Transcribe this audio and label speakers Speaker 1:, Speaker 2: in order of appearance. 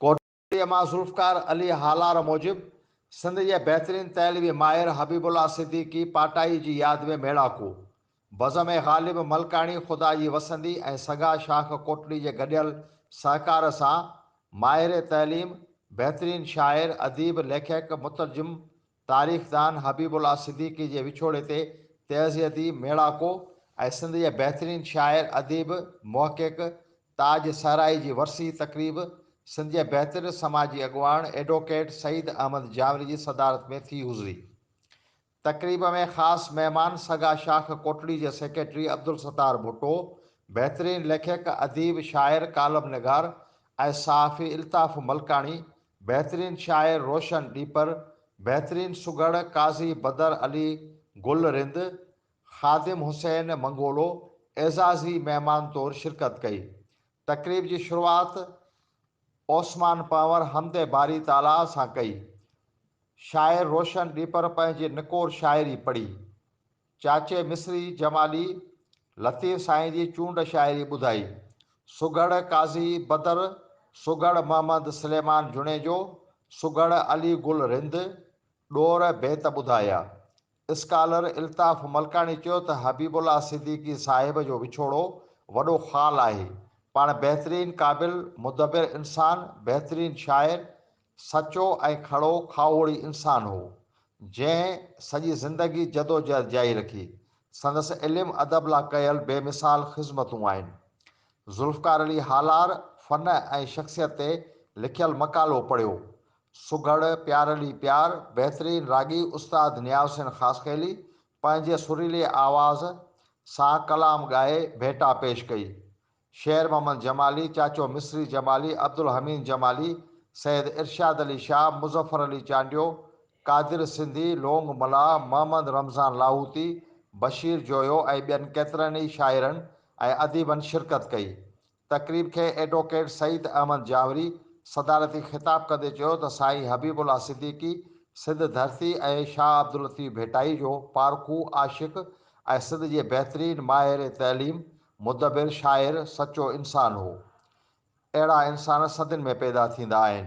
Speaker 1: ڪوٽڙيء مان ذوالفقار علي هالار موجب سنڌ جي بهترين تحلوي ماهر حبيب الله صديقي پاٽائي جي ياد ۾ ميڙاڪو بزم ۽ غالب ملڪاڻي خدا جي وسندي ۽ سگا شاخ ڪوٽڙي جي گڏيل سهڪار سان ماهر تحليم، بهترين شاعر، اديب، ليکڪ، مترجم، تاريخدان حبيب الله صديقي جي وڇوڙي تي تعزيتي ميڙاڪو ۽ سنڌ جي بهترين شاعر، اديب، محقق تاج صحرائي جي ورسي تقريب سنڌ جي بهترين سماجي اڳواڻ ايڊووڪيٽ سعيد احمد جامري جي صدارت ۾ ٿي گذري. تقريب ۾ خاص مهمان سگا شاخ ڪوٽڙي جي سيڪريٽري عبدالستار ڀٽو، بهترين ليکڪ، اديب، شاعر، ڪالم نگار ۽ صحافي الطاف ملڪاڻي بهترين شاعر روشن ڏيپر، بهترين سگهڙ قاضي بدر علي گل رند، خادم حسين منگولو اعزازي مهمان طور شرڪت ڪئي. تقريب جي شروعات اوسمان پنهور حمد باري تعاليٰ سان ڪئي. شاعر روشن ڏيپر پنهنجي نڪور شاعري پڙهي. چاچي مصري جمالي لطيف سائين جي چونڊ شاعري ٻڌائي. سگهڙ قاضي بدر، سگهڙ محمد سليمان جوڻيجو، سگهڙ علي گل رند ڏور بيت ٻڌايا. اسڪالر الطاف ملڪاڻي چيو ته حبيب الله صديقي صاحب جو وڇوڙو وڏو خال آهي. پاڻ بهترين قابل، مدبر انسان، بهترين شاعر، سچو ۽ ڪھڙو کاھوڙي انسان ھو، جنھن سڄي زندگي جدوجھد جاري رکي. سندس علم ادب لا ڪيل بي مثال خذمتون آھن. ذوالفقار علي ھالار فن ۽ شخصيت تي لکيل مقالو پڙھيو. سگھڙ، پيار علي پيار، بهترين راڳي استاد نياز حسين خاصخيلي پنھنجي سريلي آواز سان ڪلام ڳائي ڀيٽا پيش ڪئي. شير محمد جمالي، چاچو مصري جمالي، عبدالحميد جمالي، سيد ارشاد علي شاهه، مظفر علي چانڊيو، قادر سنڌي، لونگ ملاح، محمد رمضان لاهوتي، بشير جويو ۽ ٻين ڪيترن ئي شاعرن ۽ اديبن شرڪت ڪئي. تقريب کي ايڊووڪيٽ سعيد احمد جاوڙي صدارتي خطاب ڪندي چيو ته سائين حبيب الله صديقي سنڌ ڌرتي ۽ شاهه عبداللطيف ڀٽائي جو پارکو عاشق ۽ سنڌ جي بهترين ماهر تعليم مدبر شاعر سچو انسان هو. اهڙا انسان صدين ۾ پيدا ٿيندا آهن.